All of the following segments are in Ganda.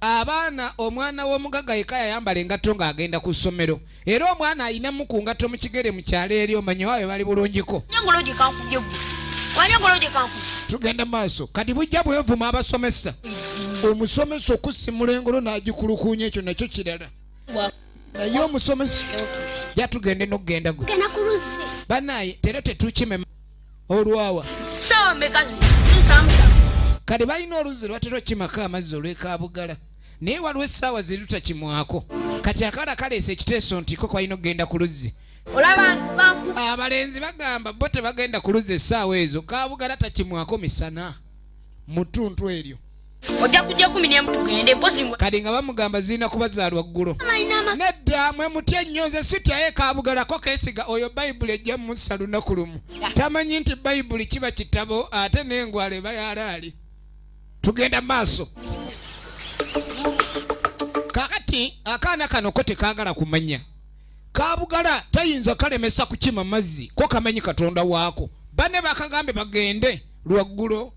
abaana omwana w'omugagga yeka yayambala engatto ng'agenda ku ssomero era omwana ayinamu ku ngatto mu kigere mu kyalo eri omanyi waawe bali bulungiko tugenda maaso kati bujja bwevuma abasomesa omusomesa okusimula engolo n'agikulukuunya ekyo nakyo kirala naye omusomesa jatugende nokugenda gwe banaye tera tetukimema olwawa sawa mekazi nsamsa kati balina oluzzi lwatera okukimako amazzi olwekabugala naye waliwo essaawa zirutakimwako kati akaana kaleesa ekiteeso nti ko kwalina okugenda ku luzzi abalenzi bagamba bo tebagenda ku luzzi essaawa ezo kabugala takimwako misana mu ttuntu eryo ojja kujja kumi nemu tugende mpozi kati nga bamugamba zirina kubazaalwa ggulo nedda mwe mutya ennyo nze sityayo ekabugalako kesiga oyo bayibuli ejja musa lunaku lumu tamanyi nti bayibuli kiba kitabo ate n'engwala eba yalaali tugenda maaso kakati akaana kano ko tekagala kumanya kabugala tayinza kalemesa kukima mazzi ko kamanyi katonda waako bane bakagambye bagende lwaggulo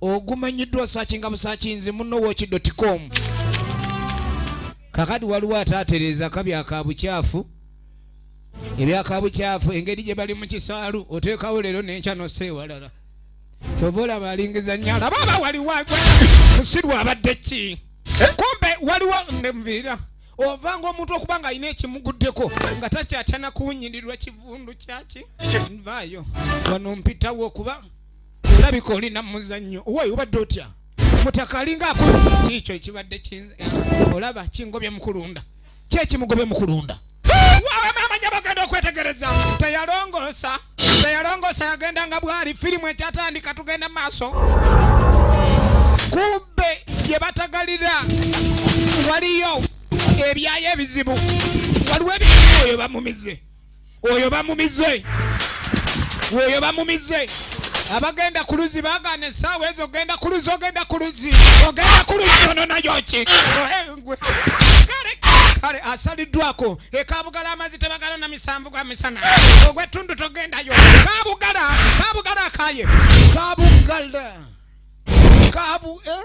ogumanyiddwa sakinga busakinzi munno wokidotikomu kakati waliwo ataatereeza kabya ka bukyafu ebyaka bukyafu engeri gye bali mu kisaalu oteekawo leero nenkya nossa ewalala kyova olaba alingiza nnyo alaba aba waliwo musirwa abadde ki kumbe waliwo nviira ovanga omuntu okuba nga alina ekimuguddeko nga takyatana kuwunyirirwa kivundu kyaki nvaayo wano mpitawo okuba olabika oli namuzannyo owayi obadde otya mutaka alinga akola kiikyo ekibadde eh, olaba kingobye mukulunda kyekimugobye mukulunda amanya bagenda okwetegereza teyalongoosa teyalongoosa yagenda nga bwali firimu ekyatandika tugenda mu maaso kumbe gye batagalira waliyo ebyayo ebizibu waliwo ebizibu oyo bamumize oyo bamumize oyo bamumize abagenda ku luzzi bagana esaawa ezo ogenda ku luzzi ogenda ku luzzi ogenda ku luzzi ono nayoki eh, kale asaliddwako ekabugala amazzi tebagala na misanvu gwa misana ogwetundu togendayo kabugala kabugala akaye kabugala kabu eh?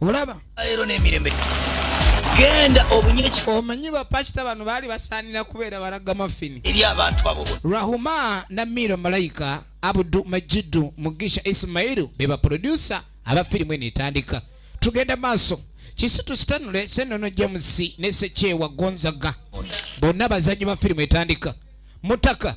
olaba leero n'emirembe genda obunye omanyi bapasita bano baali basaanira kubeera balaga mafini eri abantu abo rahuma namiiro malayika abudu majidu mugisha isimayiru be baprodusa aba firimu eno etandika tugenda maaso kisi tusitanule senono james ne sekyewa gonzaga bonna bazanyi ba firimu etandika mutaka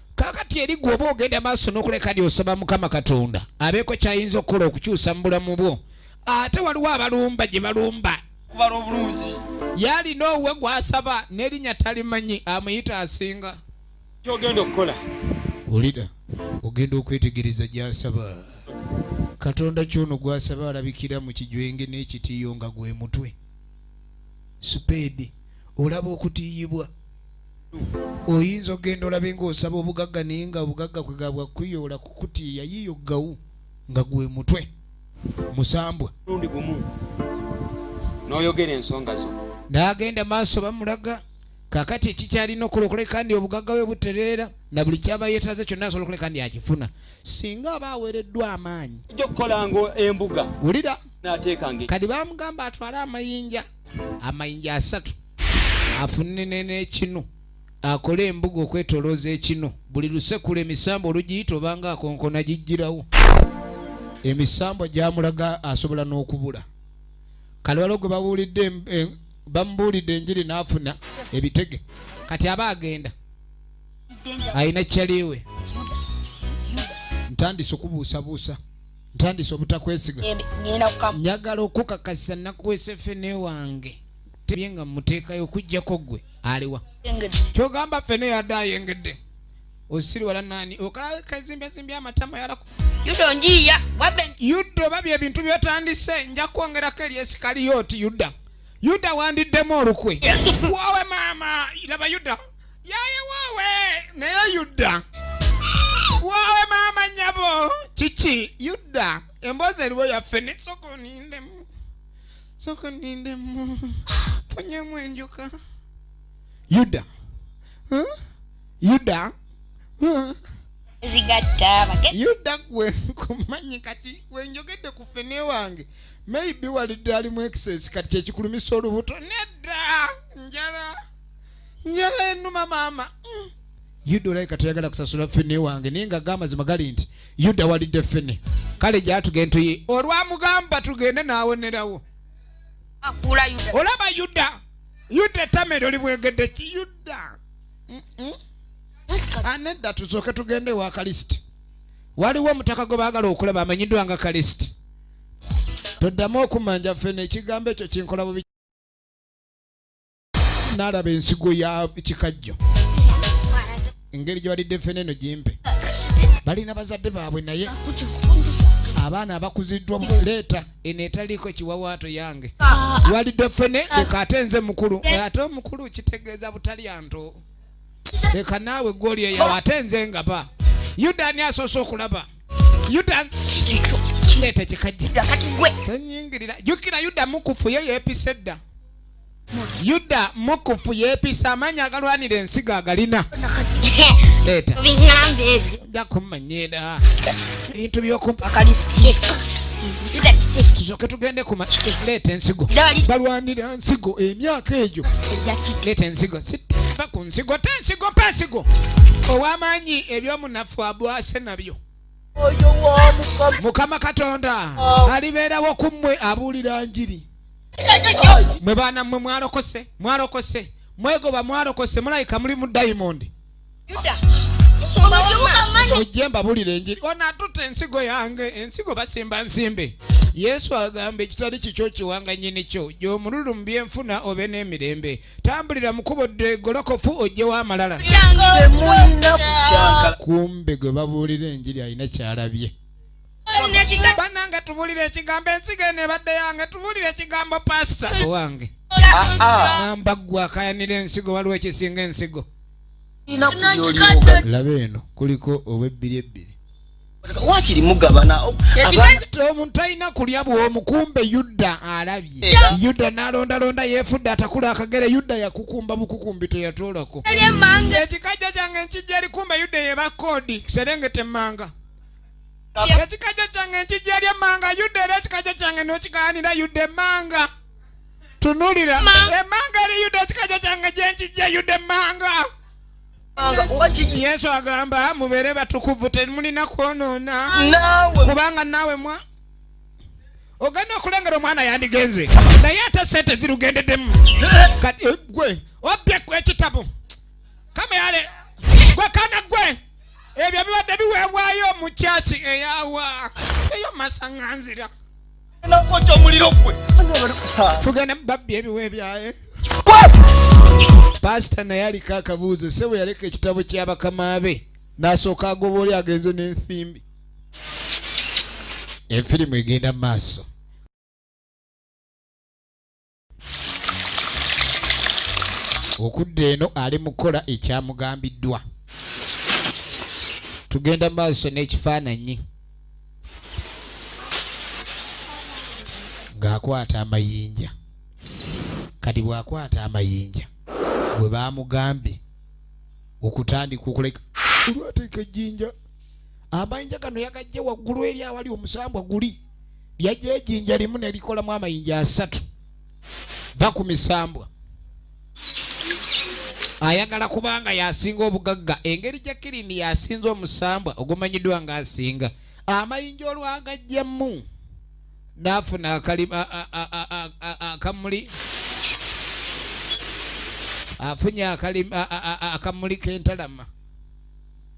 kakati eri gwe oba ogenda maaso n'okuleka lyosaba mukama katonda abeeko kyayinza okukola okukyusa mu bulamu bwo ate waliwo abalumba gye balumba kubala obulungi yalina owuwe gwasaba nerinya talimanyi amuyita asinga kyogenda okukola olida ogenda okwetegereza gyasaba katonda kyono gwasaba alabikira mu kijwenge n'ekitiyo nga gwe mutwe sipeedi olaba okutiyibwa oyinza ogenda olabe ng'osaba obugagga naye nga obugagga kwe gabwa kuyoola kukutiya yiyo gawu nga gwe mutwe musambwa lundi gumu n'oyogera ensonga zo n'agenda maaso bamulaga kakati ekikyalina okola okuleka ndi obugagga bwe butereera na buli kyaba yeetaze kyonna asobola okuleka ndi akifuna singa aba aweereddwa amaanyi ojja okukola nga embuga wulira kadi bamugamba atwale amayinja amayinja asatu afunne n'ekinu akole embuga okwetolooza ekinu buli lusekula emisambwa olugiyita obanga akonkona gijjirawo emisambwa gyamulaga asobola n'okubula kalwalo gwe babuulidde eh, bamubuulidde enjiri n'afuna ebitege kati aba agenda alina kyaliwe ntandise okubuusabuusa ntandise obutakwesiga njagala okukakasa nakuwesa fene wange tebye nga muteekayo okujjako gwe aliwa kyogamba fene yadde ayengedde osiriwala nani okalaba kazimbyazimby amatama yalaku yuda oba byebintu byotandise nja kwongerako eri esikaliyo oti yuda yuda wandiddemu olukwe wawe maama laba yuda yaye wowe naye yudda wowe maama nyabo kiki yudda emboozi eriwo yaffe nesoka onindemu soka onindemu funyemu enjuka yudda huh? yudda huh? zigatta yuda gwe nkumanyi kati wenjogedde ku fene wange maybe walidde alimu excess kati kyekikulumisa olubuto nedda njala nyala enuma mama mm. yuda olayika toyagala kusasula fene wange naye nga gamazima gali nti yuda walidde fene kale gyatugende tuyi olwamugamba tugende nawonerawo olaba yuda yuda etamere oli bwegedde ki yuda anedda tusooke tugende ewa kalisiti waliwo omutaka gwe baagala okulaba amanyiddwa nga kalisiti toddamu okumanja fene ekigambo ekyo kinkola bubi naalaba ensigo ya kikajjo engeri gye balidde ffene eno gimpe balina bazadde baabwe naye abaana abakuziddwa leeta eno etaliiko ekiwawaato yange walidde ffene leka ate nze mukulu ate omukulu kitegeeza butalya nto leka naawe gwoli eyawo ate nze ngaba yuda ani asoose okulaba yuda leeta kikajja tonyingirira jukira yuda mukufu ye yeepise dda yuda mukufu yepisa amanya agalwanira ensigo agalina leeta ja kumanyira ebintu byokumpakalistie tusoke tugende kuma leeta ensigo balwanira nsigo emyaka egyo leeta ensigo siva ku nsigo te ensigo mpa ensigo ow'amaanyi ebyomunafu abwase nabyo mukama katonda alibeerawo ku mmwe abuulira njiri mwe baana mwe mwalokose mwalokose mwegoba mwalokose mulayika muli mu diamond ojje mbabulira enjiri onatuta ensigo yange ensigo basimba nsimbe yesu agamba ekitali kikyo kiwanga nyini kyo gyomululu mu byenfuna obe n'emirembe tambulira mukubo degolokofu ojjewo amalala kumbe gwe babuulira enjiri alina kyalabye banange tubulire ekigambo ensigo eno ebadde yange tubulire ekigambo pasita owange namba gwe akayanira ensigo waliwo ekisinga ensigo laba eno kuliko obwebbiri ebbiri wakiri mugabana omuntu alina kulya bwomukumbe yuda alabye yuda nalondalonda yefudde atakula akagere yuda yakukumba bukukumbi teyatoolako ekikajja kyange nkijja likumbe yuda yeba kodi serengete manga ekikajjo kyange nkijja eri emmanga yuda era ekikajjo kyange nokigaanira yuda emmanga tunulira emmanga eri yuda ekikajjo kyange gyenkijja yuda emmanga yesu agamba mubeere batukuvu temulina kwonoona kubanga naawe mwa ogenda okulengera omwana yandigenze naye ate sente zirugendedemu eh. kati eh, gwe obbye ku ekitabo kameyale gwe kana gwe ebyo bibadde biweebwayo mu kyaki eyawa eyo masaŋanzira nakwoca omuliro gwe tugende mubabbi ebiwa ebyaye paasita naye aliko akabuuzo se bwe yaleka ekitabo kyabakama be n'asooka agoba oli agenze n'ensimbi efirimu egenda mu maaso okudda eno ali mu kukola ekyamugambiddwa tugenda maaso n'ekifaananyi ng'akwata amayinja kati bw'akwata amayinja bwe baamugambye okutandika okuleka olwateeka ejjinja amayinja gano yagajje waggulu eri awali omusambwa guli yajja ejinja limu nelikolamu amayinja asatu va ku misambwa ayagala kubanga yasinga obugagga engeri jakirini yasinza omusambwa ogumanyiddwa nga asinga amayinja olwagajjamu nafuna akamuli afunye akamuli kentalama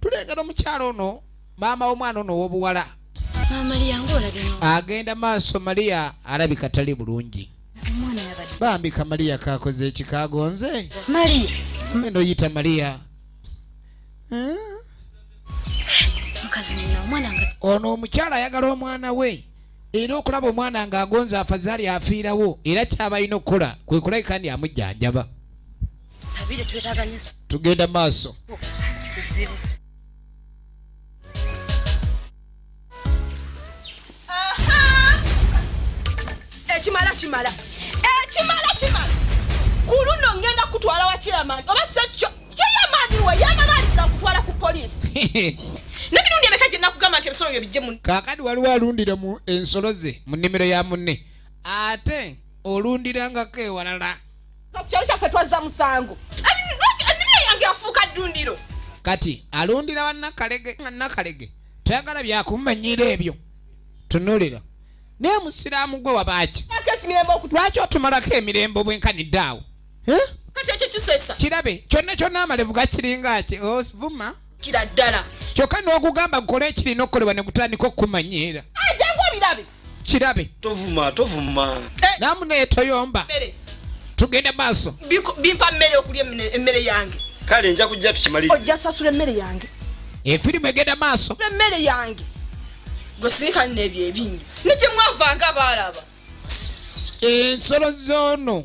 tulengera omukyalo ono maama w'omwana ono ow'obuwala agenda maaso mariya alabika tali bulungi bambi kamaliya kakoze ekikagonze enda oyita mariya ono omukyala ayagala omwana we era okulaba omwana nga agonze afazaali afiirawo era kyabalina okukola kwekulabika ndi amujjanjaba tugenda maaso ekimala kimala ekimala kimala ku luno ngenda kutwala wa chairman oba sekyo chairman we yamalaaliza kutwala ku poliisi nemirundi emeka gye nakugamba nti ebisolo byo bijje mu kaakati waliwo alundira mu ensolo ze mu nnimiro ya munne ate olundirangako ewalala kukyalo kyaffe twazza musango ennima yange yafuuka ddundiro kati alundira banakalege nga nakalege tayagala byakumanyira ebyo tunulira naye musiraamu gwe wabaaki lwaki otumalako emirembe obwenkanidde awo kirabe kyonna kyonna amalevu gakiringa ki ovuma oh, kira ddala kyokka n'ogugamba gukole ekirina okukolebwa ne gutandika okukumanyiira ajangu obirabe kirabe tovuma tovuma eh. namu naye toyomba tugende maaso bimpa mmere okulya emmere yange kale nja kujja tukimaliriza ojja sasula emmere yange efirimu eh, egenda maaso emmere yange gwesiika nneebyo ebingi nijye mwavanga abaalaba ensolo zoono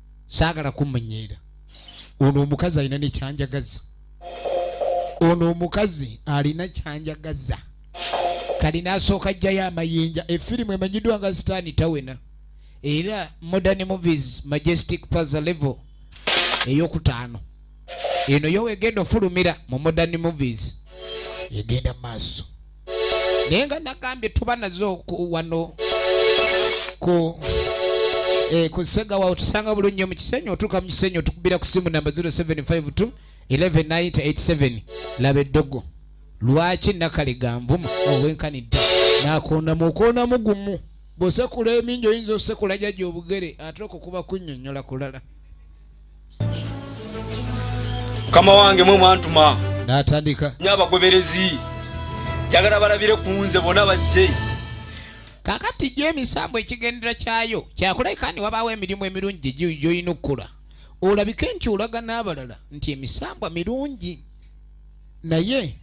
saagala kumunyeera ono omukazi alina nekyanjagaza ono omukazi alina kyanjagaza kali nasooka ajjayo amayinja efirimu emanyiddwa nga sitaani tawena era modern movies majestic paza level eyokutaano eno yo wegenda ofulumira mu modern movies egenda maaso naye nga nagambye tuba nazo wano ku eh, ku sega wawe tusanga bulungi nnyo mu kisenyi otuuka mu kisenyi otukubira ku simu namba 0752 119087 laba eddogo lwaki nakalega nvuma obwenkanidde nakondamu okondamu gumu bwosekula emingi oyinza osekula jaja obugere ate okukuba kunyonyola kulala mukama wange mwe mwantuma natandika nyo abagoberezi njagala balabire ku nze bona bajje kakati gyo emisambu ekigendera kyayo kyakuleka ni wabaawo emirimu emirungi gyoyina okukula olabike nti olaga n'abalala nti emisambwa mirungi naye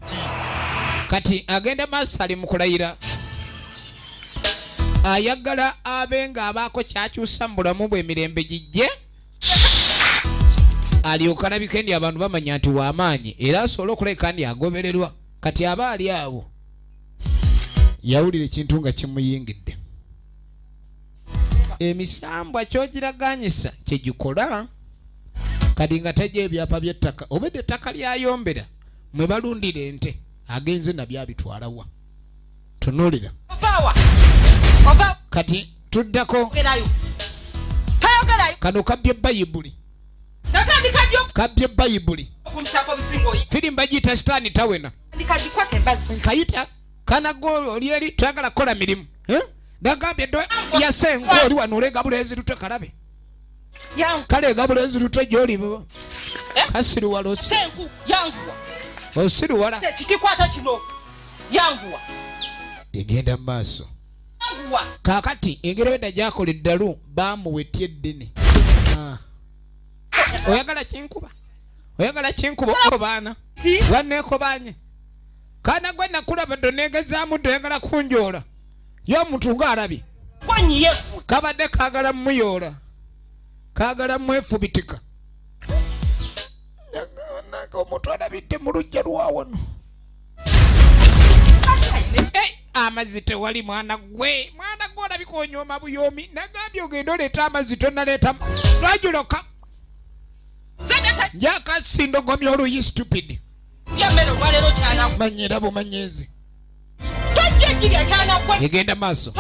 kati agenda maaso ali mukulayira ayagala abe nga abaako kyakyusa mu bulamu bwemirembe gijje alyoka alabika ndi abantu bamanya nti wamaanyi era asobola okuleka ndi agobererwa kati aba ali awo yawulira ekintu nga kimuyingidde emisambwa kyogiraganyisa kyegikola kati nga tegya ebyapa byettaka obedde ettaka lyayombera mwe balundira ente agenze nabyabitwalawa tunulira kati tuddako kano kabbye bayibuli kabbye bayibuli firimu bagiyita sitaani tawena nkayita kanago oli eri twagala kukola mirimu eh? nagambye yase engo oli wano olenga bulenzi lutwe kalabe kale egabula ezirute gyoli eh? kasiruwala osiruwala kikwata kino yanguwa egenda mu maaso kakati engeri beda gyakola eddalu bamuwetya eddini ah. oyagala kinkuba oyagala kinkuba obo baana banekobanye kana gwe nakulaba donegezaamu doyagala kunjoola ye omuntu ng'alabye kabadde kaagala mumuyoola kaagala mwefubitika nage omuntu alabidde mu lujja lwawano amazzi tewali mwana gwe mwana gwe olabika onyooma buyoomi nagambye ogenda oleeta amazzi tonaleeta lwajuloka njakasindogomi oluyi stupid manyira bumanyizi egenda maaso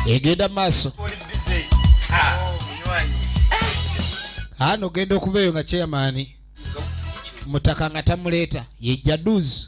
egenda maaso ano ogenda okuva eyo nga chairman mutaka nga tamuleeta ye jaduzi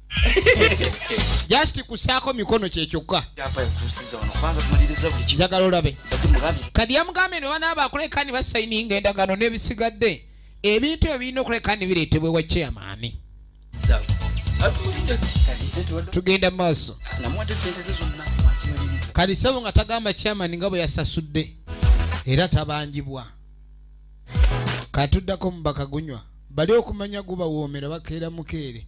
just kusaako mikono kyekyokka njagala olabe kadi yamugambye ne banaaba akuleka ni basayininga endagano n'ebisigadde ebintu ebyo birina okuleka ni bireetebwa ewa chairmani tugenda mu maaso kadi sabo nga tagamba chairmani nga bwe yasasudde era tabanjibwa katuddako mubaka gunywa bali okumanya gubawoomera bakeera mukeere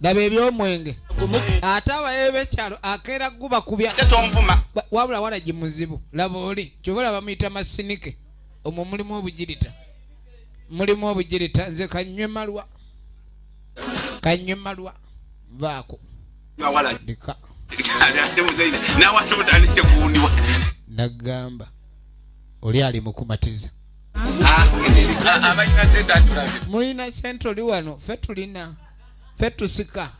laba ebyomwenge ate abaye bekyalo akeera guba kubya wabula walagi muzibu laba oli kyoba laba muyita masinike omwo mulimu obugirita mulimu obugirita nze kanywe malwa kanywe malwa vaako ndika nagamba oli ali mukumatiza mulina sente oli wano fe tulina fe tusika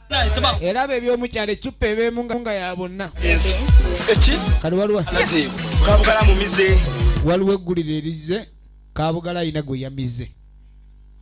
era be ebyomukyalo ecupa ebeemu nga ya bonna kali waliwo waliwo eggulire erizze kabugala alina gwe yamize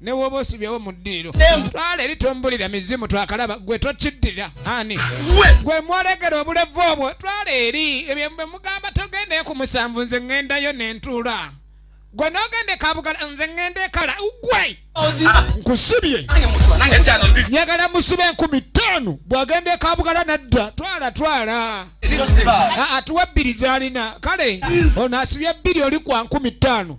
ne woba osibyewo mu ddiiro twala eri tombulira mizimu twakalaba gwe tokiddira ani gwe mwolegera obulevu obwo twala eri ebyo bwe mugamba togendayo ku musanvu nze ŋŋendayo ne ntuula gwe nogenda ekabugala nze ŋŋenda ekala gwe nkusibye njagala musiba enkumi ttaano bw'agenda ekabugala nadda twala twala atuwa ebbiri z'alina kale ono asibye ebbiri oli kwa nkumi ttaano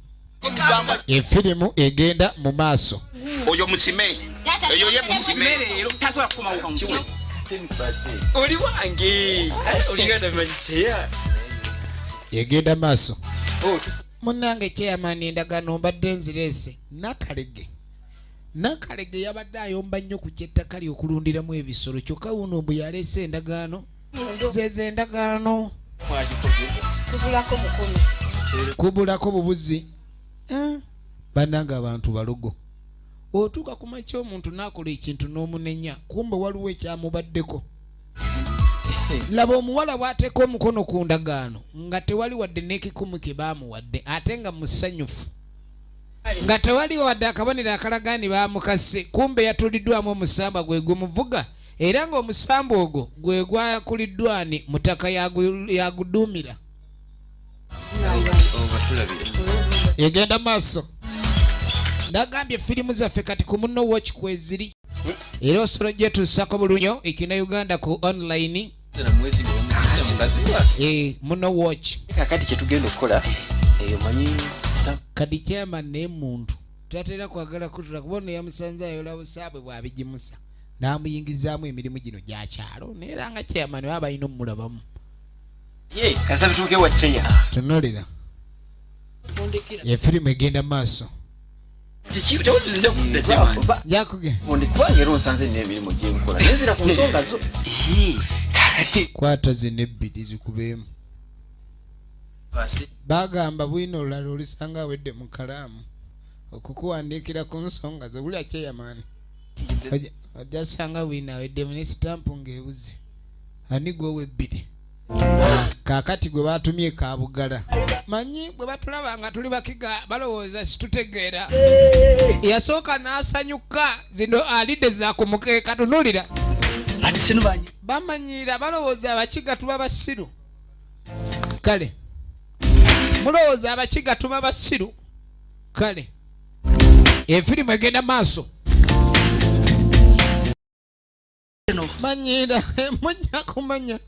efirimu egenda mu maaso oyo musime eyo ye musime leero tasobola kukomawoka mukiwe oli wange olingata bimanyi kyeya egenda maaso oh, munange kyeyamani endagaano mbadde nzireese nakalege nakalege yabadde ayomba nnyo ku kyettaka lyokulundiramu ebisolo kyokka wuno mbu yaleese endagaano zeze endagaano kubulako bubuzi eh? bananga abantu balogo otuuka ku makya omuntu naakola ekintu n'omunenya kumba waliwo ekyamubaddeko laba omuwala bw'ateeka omukono ku ndagaano nga tewali wadde n'ekikumu kye baamuwadde ate nga musanyufu nga tewali wadde akabonero akalaga ni baamukase kumbe yatuliddwamu omusamba gwe gumuvuga era ng'omusambu ogwo gwe gwakuliddwa ani mutaka yaguduumira egenda maaso nagambye firimu zaffe kati ku munno watch kweziri era osobola gyetuusako bulunyo ekina uganda ku online eh, muno watch kakati kyetugenda okukola eyo manyi kadi chairman naye muntu tatera kwagala kutula kuba ono yamusanze ayola busaabwe bwabigimusa n'amuyingizaamu emirimu gino gya kyalo naye era nga chairman baba balina omulabamu tunolera ye firimu egenda maaso kwata zino ebbiri zikubeemu bagamba bwino olulala olisanga awedde mu kalaamu okukuwandiikira ku nsonga zobulya kyeyamaani ojja sanga wina weddemu ne sitampu ng'ebuze ani gwewa ebbiri kaakati gwe baatumye kabugala manyi bwe batulaba nga tuli bakiga balowooza situtegeera yasooka n'asanyuka zino alidde za ku mukeeka tunulira bamanyiira balowooza abakiga tuba basiru kale mulowooza abakiga tuba basiru kale efirimu egenda maaso manyira mujja kumanya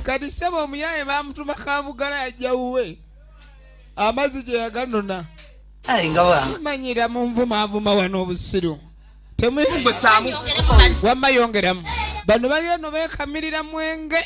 kati saba omuyaye bamutuma kabugala yajja wuwe amazzi gye yaganona manyira munvumaavuma wano obusiru temuyongeramu wamma yongeramu bano baliyo no bekamirira mwenge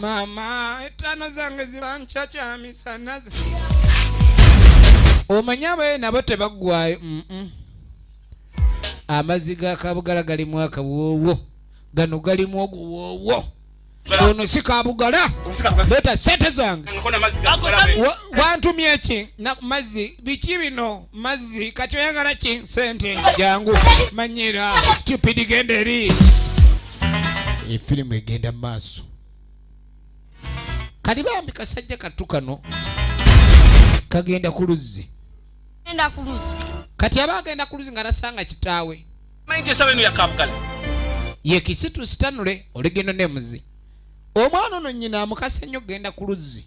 mama etano zange zibankya kyamisanaze omanyi abaye nabo tebaggwayo amazzi ga kabugala galimu akawoowo gano galimu oguwoowo ono si kabugala leeta sente zange wantumye ki mazzi biki bino mazzi kati oyagala ki sente jangu manyira stupid genda eri efirimu egenda mu maaso kali bambi kasajja kattu kano kagenda ku luzzi kati aba agenda ku luzzi nga nasanga kitaawe yekisitu sitanule oligendo nemuzi omwana ono nyina amukase nnyo okugenda ku luzzi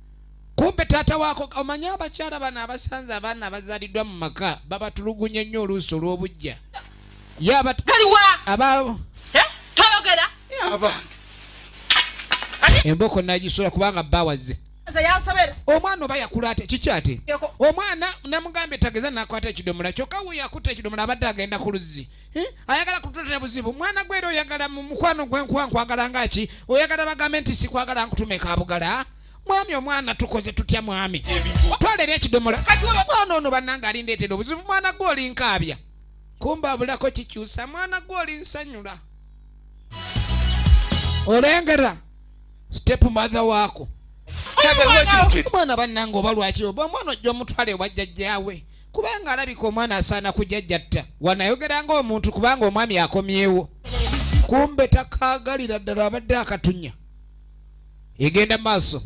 kumbe taata waako omanyi abakyala bano abasanze abaana abazaliddwa mu maka babatulugunya nnyo oluusi olw'obujja yabataliwa abaabo eh? toyogera abange emboko nagisula kubanga bawaze omwana oba yakula ate kiki ate omwana namugambye tageza nakwata ekidomola kyokka we yakuta ekidomola abadde agenda ku luzzi Eh? ayagala kutuletera buzibu mwana gwe era oyagala mu mukwano gwe nkuwa nkwagala nga ki oyagala bagambe nti sikwagala nkutume kabugala mwami omwana tukoze tutya mwami twalera ekidomola mwana ono bannanga alindeetera obuzibu mwana gwe oli nkaabya kumba abulako kikyusa mwana gwe oli nsanyula olengera step mother waako mwana bannanga oba lwaki oba omwana ojja omutwale obajjajjaawe kubanga alabika omwana asaana kujajjatta wanayogera nga omuntu kubanga omwami akomyewo kumbe takagalira ddala abadde akatunya egenda maaso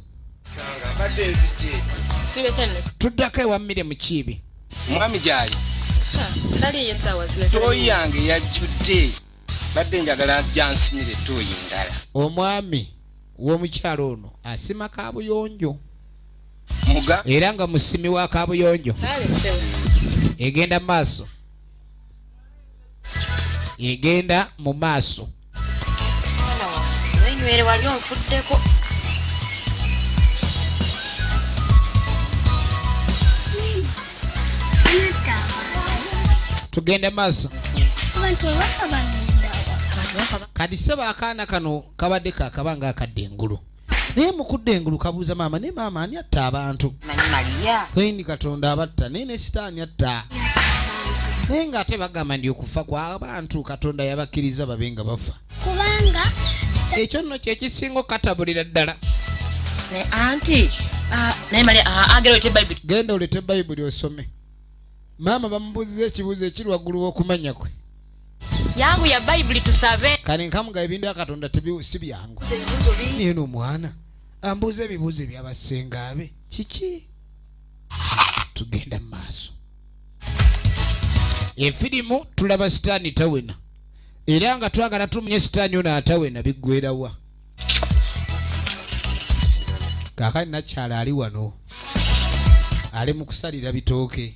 tuddako ewa mmire mukiibi mwami gyali toyi yange yajjudde badde njagala jansimire toyi ndala omwami w'omukyalo ono asima kabuyonjo era nga musimi wa kabuyonjo egenda maaso egenda mu maaso tugende maaso kati sebo akaana kano kabadde kakabanga akadde engulu naye mukudde engulu kabuuza maama naye maama ani atta abantu kwendi katonda abatta naye ne sitaani atta naye nga ate bagamba ndi okufa kwabantu katonda yabakkiriza babe nga bafa kubanga ekyo nno kyekisinga okukatabulira ddala naye anti ah, naye mali ah, agera olete bayibuli genda olete bayibuli osome maama bamubuuziza ekibuuzo ekiri waggulu w'okumanya kwe yangu ya bayibuli tusabe kale nkamuga ebintu bya katonda si byangu naye n'omwana ambuuza ebibuuzo ebyabasenga be kiki tugenda mu maaso efirimu tulaba sitaani tawena era nga twagala tumunye sitaani ono atawena biggwerawa kakati nakyala ali wano ali mu kusalira bitooke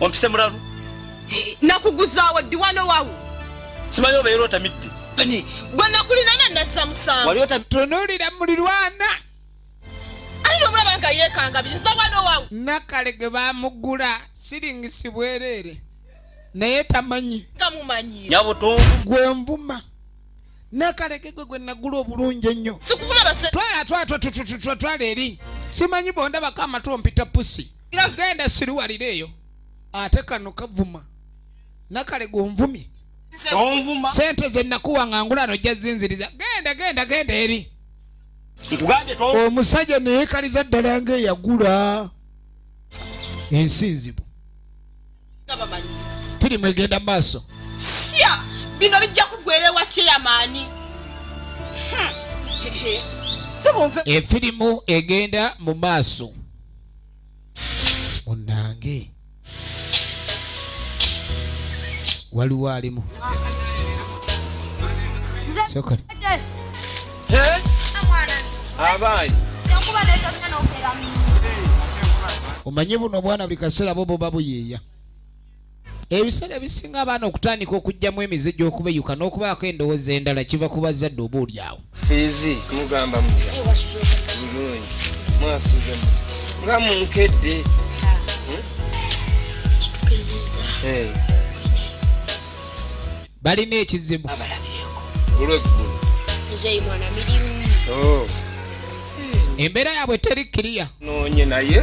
ompise mulalu nakuguzaawo ddi wano wawu simanyi obeera otamidde bane gwe nakulinana nazza musango tunuulira mulirwana alina omulaba nga yeekangabiriza wano wawu nakale ge bamugula siringisi bwereere naye tamanyi tamumanyi nyabo tonvu gwe nvuma nakaleke gwe gwe nagula obulungi ennyo sikufuna base twala twala twala eri simanyi bondabako amatu ompita pusi genda siriwalira eyo ate kano kavuma nakale gonvumye sente zenakuwa nga ngula nojja zinziriza genda genda genda eri omusajja neyekaliza ddala nga eyagula ensi nzibu firimu egenda maaso bino bijja kugwerewa kyeyamaani efirimu egenda mu maaso munange waliwo alimu sokole abaanyi omanye buno obwana buli kaseera bo boba buyiiya ebiseera ebisinga abaana okutandika okugyamu emize gy'okubeyuka n'okubaako endowooza endala kiva ku bazzadde oba olyawo fiizi mugamba mutya bulungi mwasuze mu nga munkedde hmm? balina ekizibu olweggulu oh. embeera yaabwe teri kiriya noonye naye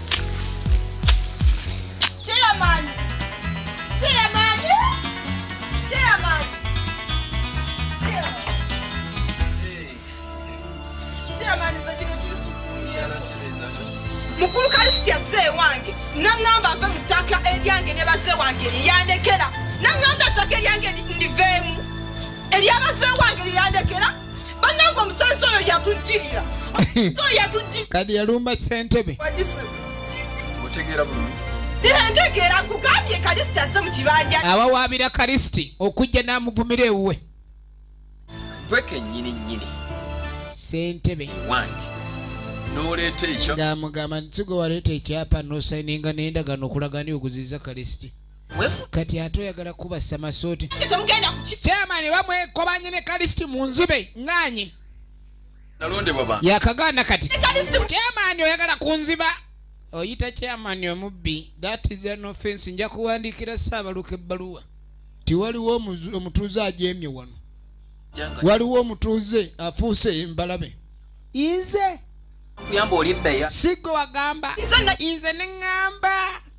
mukulu kalisiti azze ewange naŋŋamba nve mu ttaka eryange ne baze wange lyeyandekera naŋŋamba ettaka eryange ndiveemu eryabaze wange lyeyandekera banange omusazi oyo yatujjirira kadi yalumba sentebe otegeera bulungi ntegeera nkugambye kalisiti aze mu kibanja abawaabira kalisiti okujja n'amuvumira ewuwe gwe kenyini nyini sentebe wange noleeta ekyo ng'amugamba nti sigwe waleeta ekyapa nosayininga n'endagaano okulagani okuziza kalisiti kati ate oyagala kuba samasooti chairman bamwekobanye ne kalisti mu nzibe nganye yakagaana kati chairman oyagala kunziba oyita chairman omubbi that is an offense nja kuwandiikira saabaluka ebbaluwa ti waliwo omutuuze ajemye wano waliwo omutuuze afuuse embalabe inze sigwe wagamba inze neŋamba